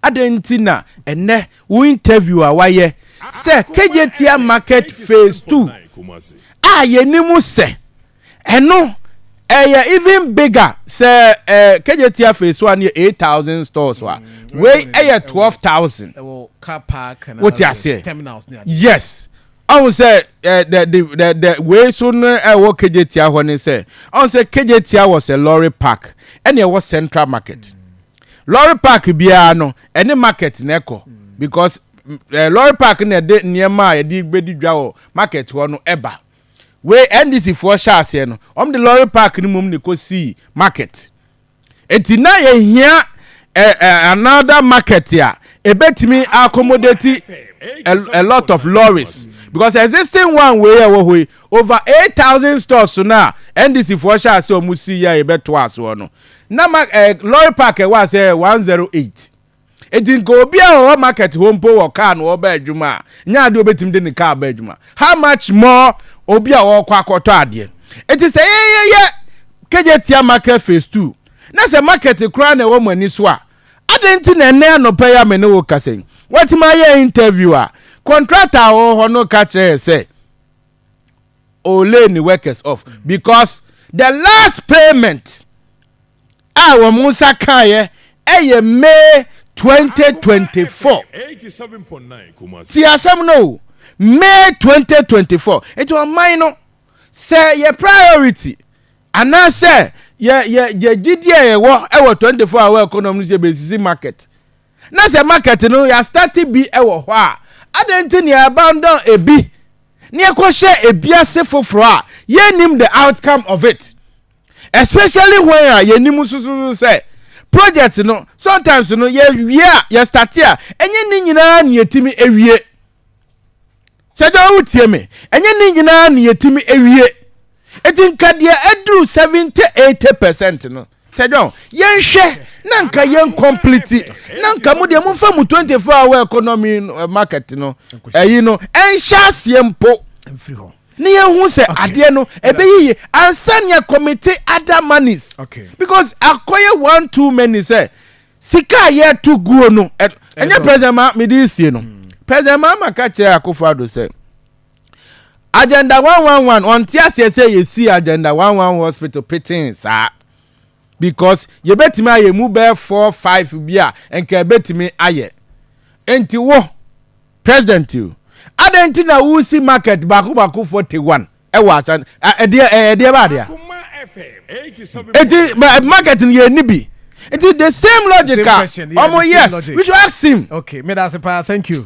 Adɛn nti na ɛnnɛ wo interview a wayɛ sɛ Kejetia Market Phase Two a yɛnim sɛ ɛno ɛyɛ even bigger sɛ Kejetia Phase One no yɛ eight thousand stores a, wei ɛyɛ twelve thousand. Wote aseɛ? Yes. Ɔhu sɛ the the the the wei so no ɛwɔ Kejetia hɔ ne sɛ ɔhu sɛ Kejetia was a lorry park ɛna ɛwɔ Central Market. Lɔre park biara no ɛne market na ɛkɔ because eh, lɔre park na ɛde nneɛma a yɛde bɛdi dwa wɔ market hɔ no ɛba wei ndc foɔ hyɛ aseɛ no wɔn de lɔre park no mom na ɛkɔ sii market eti na yɛhia eh, eh, another market a ɛbɛtumi accommodate a, a lot of lorries because existing one wei a ɛwɔ hɔ yi over 8000 stores no a ndc foɔ hyɛ aseɛ wɔn si yɛ a yɛbɛtoa asoɔ no Na ma eh, lorry park ɛwɔ ase eh, 108. Eti nka obi a ɔwɔ market hɔ mpo wɔ car na ɔba adwuma a, nyɛ adeɛ obetumi de ne car ba adwuma. How much more obi a ɔkɔ akɔtɔ adeɛ. Eti sɛ yɛyɛ Kejetia market phase two na sɛ market koraa na ɛwɔ mo ani so a, adɛn nti na ɛnnɛ anɔpa yi a me ne wo kasa yi, woatumi ayɛ interview a, contractor a ɔwɔ hɔ no ka kyerɛ yɛ sɛ, or lay ne workers off because the last payment a wɔn nsa kaeɛ ɛyɛ May 2024 ti asɛm no o May 2024 nti ɔman no sɛ yɛ priority anaasɛ yɛ yɛ yɛ gyidie a yɛwɔ ɛwɔ 24 hour economy no sɛ yɛbɛsisi market Na sɛ market no yɛ starte bi wɔ hɔ a, adɛn nti na yɛ abandon ebi na yɛ kɔ hyɛ ebi ase foforɔ a yɛ nnim the outcome of it? Especially when a yɛ nim nso so sɛ project no sometimes no yɛ wie a yɛ starte a ɛnyɛ ne nyinaa na yɛ tumi wie. Sɛ daa wotie me. Ɛnyɛ ne nyinaa na yɛtumi awie. Enti nka deɛ aduru 70, 80 percent no, sɛ John, yɛnhwɛ na nka yɛn complete, na nka mo deɛ momfa mo 24 hour economy market no, ɛyi no, ɛnhyɛ aseɛ mpo. Mfiri hɔ. ne yɛhu sɛ okay. adeɛ no ɛbɛyiye ansa nea committee other monies okay. because akɔyɛ one too many sɛ Sika a yɛto guo no, ɛnyɛ President Mahama, mede resie no, President Mahama ka kyerɛ Akufo Addo sɛ, Agenda 111, ɔnte aseɛ sɛ yɛsii Agenda 111 Hospital petee saa because yɛbɛtumi ayɛ ɛmu bɛyɛ four five bi a nka ɛbɛtumi ayɛ. Enti wo, President o, adɛn nti na woresi market baako baako 41? ɛwɔ asan ɛdeɛ ɛdeɛ baa deɛ eti market ni yɛ ni bi eti the same logic a ɔmo yes we should ask him. okay meda ase paa thank you.